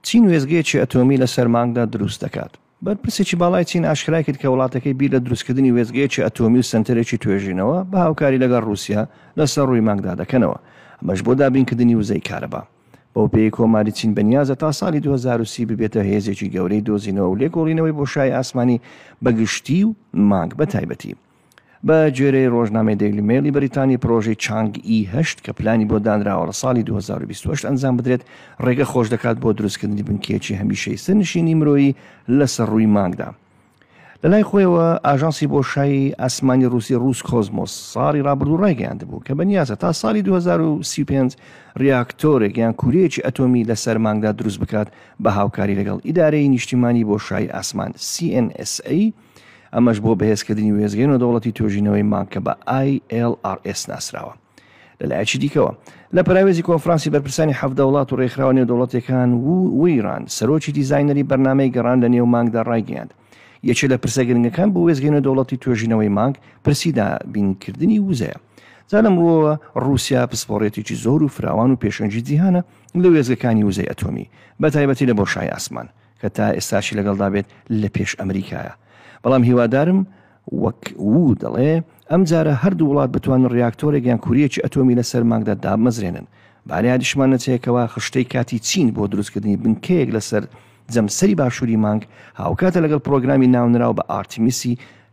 چین وێستگەیەکی ئەتۆمی لەسەر مانگدا دروست دەکات. بەرپرسێکی باڵای چین ئاشکرای کرد کە وڵاتەکەی بیر لە دروستکردنی وێستگەیەکی ئەتۆمی و سەنتەرێکی توێژینەوە بە هاوکاری لەگەڵ رووسیا لەسەر رووی مانگدا دەکەنەوە، ئەمەش بۆ دابینکردنی وزەی کارەبا. بەوپێیەی کۆماری چین بەنیازە تا ساڵی دوو هەزار و سی ببێتە هێزێکی گەورەی دۆزینەوە و لێکۆڵینەوەی بۆشایی ئاسمانی بە گشتی و مانگ بە تایبەتی. بە گوێرەی ڕۆژنامەی دەیلی مەیڵی بەریتانی پرۆژەی چانگ ئی هەشت کە پلانی بۆ دانراوە لە ساڵی 2028 ئەنجام بدرێت ڕێگە خۆش دەکات بۆ دروستکردنی بنکەیەکی هەمیشەی سەرنشینی مرۆیی لەسەر ڕووی مانگدا لەلای خۆیەوە ئاژانسی بۆ شای ئاسمانی رووسی رووس کۆزمۆس ساڵی رابرردوو ڕایگەیاند بوو کە بەنیازە تا ساڵی 2035 ریاکتۆرێک یان کوورەیەکی ئەتۆمی لە سەرمانگدا دروست بکات بە هاوکاری لەگەڵ ئیدارەی نیشتیمانی بۆ شای ئاسمان CNSA ئەمەش بۆ بەهێزکردنی وێزگەی نۆدەوڵەتی توێژینەوەی مانگ کە بە ILRS ناسراوە. لە لایەکی دیکەوە، لە پەراوێزی کۆنفرانسی بەرپرسانی حەڤدە وڵات و ڕێکخراوە نێودەوڵەتییەکان، وو ویران، سەرۆکی دیزاینەری بەرنامەی گەڕان لە نێو مانگدا ڕایگەیاند، یەکێ لە پرسە گرنگەکان بۆ وێستگەی نێودەوڵەتی توێژینەوەی مانگ پرسی دابینکردنی وزەیە. جا لەم ڕووەوە ڕووسیا پسپۆڕیەتێکی زۆر و فراوان و پێشەنگی جیهانە لە وێستگەکانی وزەی ئەتۆمی، بەتایبەتی لە بۆشای ئاسمان. کە تا ئێستاشی لەگەڵدا بێت لە پێش ئەمریکایە بەڵام هیوادارم وەک وو دەڵێ ئەم جارە هەردوو وڵات بتوانن ڕیاکتۆرێک یان کوریەکی ئەتۆمی لە سەر مانگدا دابمەزرێنن بانیادیشمان نەچێکەوە خشتەی کاتی چین بۆ دروستکردنی بنکەیەک لەسەر جەمسەری باشووری مانگ هاوکاتە لەگەڵ پڕۆگرامی ناونراو بە ئارتیمیسی